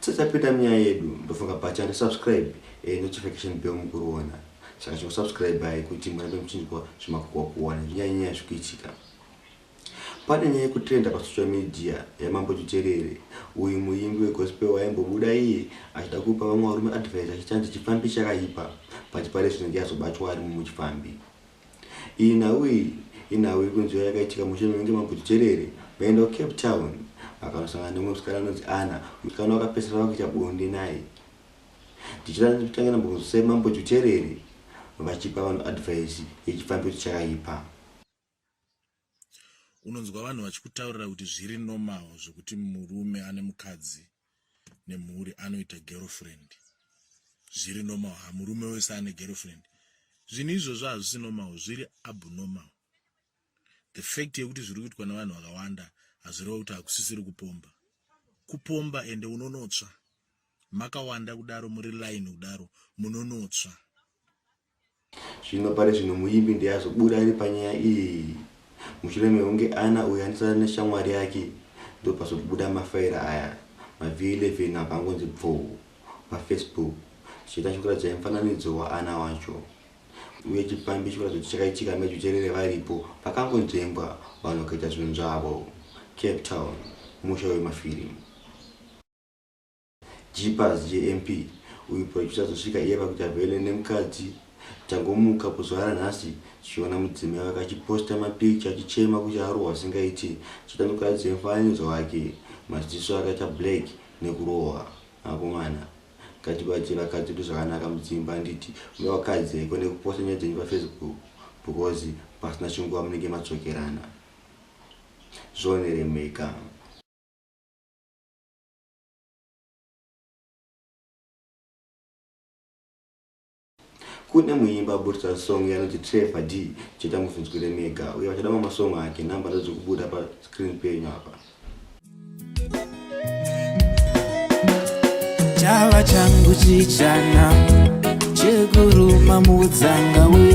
Tisati tapinda munyaya yedu, ndofunga bhacha resubscribe e notification bell mukuriona. Saka chingosubscribai kuti murambe muchinzwa zvemakuhwa kuwana nezvinyaya-nyaya zviri kuitika. Pane nyaya yekutrenda pasocial media yaMambo Tuterere, uyu muimbi wegospel waimbobuda iye achida kupa vamwe varume advice achiti hanzi chipfambi chakaipa but pari zvino ndiye azobatwa ari mumwe chipfambi. Iyi nhau iyi inhau iri kunziwa yakaitika mushe mekunge maGutujerere vaenda kuCape Town vakanosangana nemumwe musikana anonzi Anna. Musikana uyu akapedzisira ava kuita bonde naye. Tichitanga titange nambokunzwisai Mambo Juterere vachipa vanhu advice yechifambiro chakaipa. unonzwa vanhu vachikutaurira kuti zviri normal zvekuti murume ane mukadzi nemhuri anoita girlfriend zviri normal ha murume wese ane girlfriend zvinhu izvozvo hazvisi normal zviri abnormal the fact yekuti zviri kuitwa nevanhu vakawanda hazvireva kuti hakusisiri kupomba kupomba ende unonotsva makawanda kudaro muri line kudaro munonotsva Zvino pari zvino muimbi ndiye azobuda ari panyaya iyi mushure mekunge Anna uyo anosara neshamwari yake ndopazobuda mafaira aya mavi 11 apa angonzi bvoo paFacebook zvichiita zvekuratidzai mufananidzo waAnna wacho uye chipfambi chikuratidza kuti chakaitika mejucherere varipo pakangonzvengwa vanhu vakaita zvinhu zvavo Cape Town musha wemafirimu Jeepers JMP uyu producer zvosvika iye pakuita vele nemkadzi tangomuka kuzuva ranhasi tichiona mudzimai wake achiposta mapicture achichema kuti arohwa zvisingaiti chitani kutaridza mufananidzo wake maziso ake aita black nekurohwa akomana ngatibatsire vakadzi vedu zvakanaka mudzimba handiti uya wakadzi haiko nekuposta nyaya dzenyu pafacebook because pasina chinguva munenge madzokerana zvioneremeka kune muimba aburitsa song yanoti trevor d cheta muzvinzwire mega uye vachada mamwe song ake number dzadziri kubuda pascreen penyu apa chava changu chichana chekuruma mudzanga we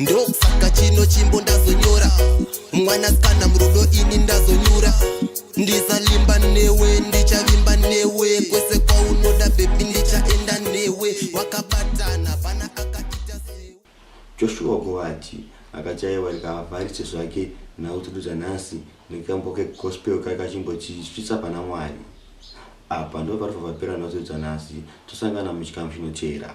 ndosaka chino chimbo ndazonyora mwana sikana murudo ini ndazonyura ndisalimba newe ndichavimba newe kwese kwaunoda bebi ndichaenda newe wakabatana pana akaita sewe joshua govati akachaiwa rikavavharise zvake nhau tudu dzanhasi nekambo kegospel kai kachimbotisvitsa pana mwari apa ndoparifavapera nhau tudu dzanhasi tosangana muchikamu chinoteera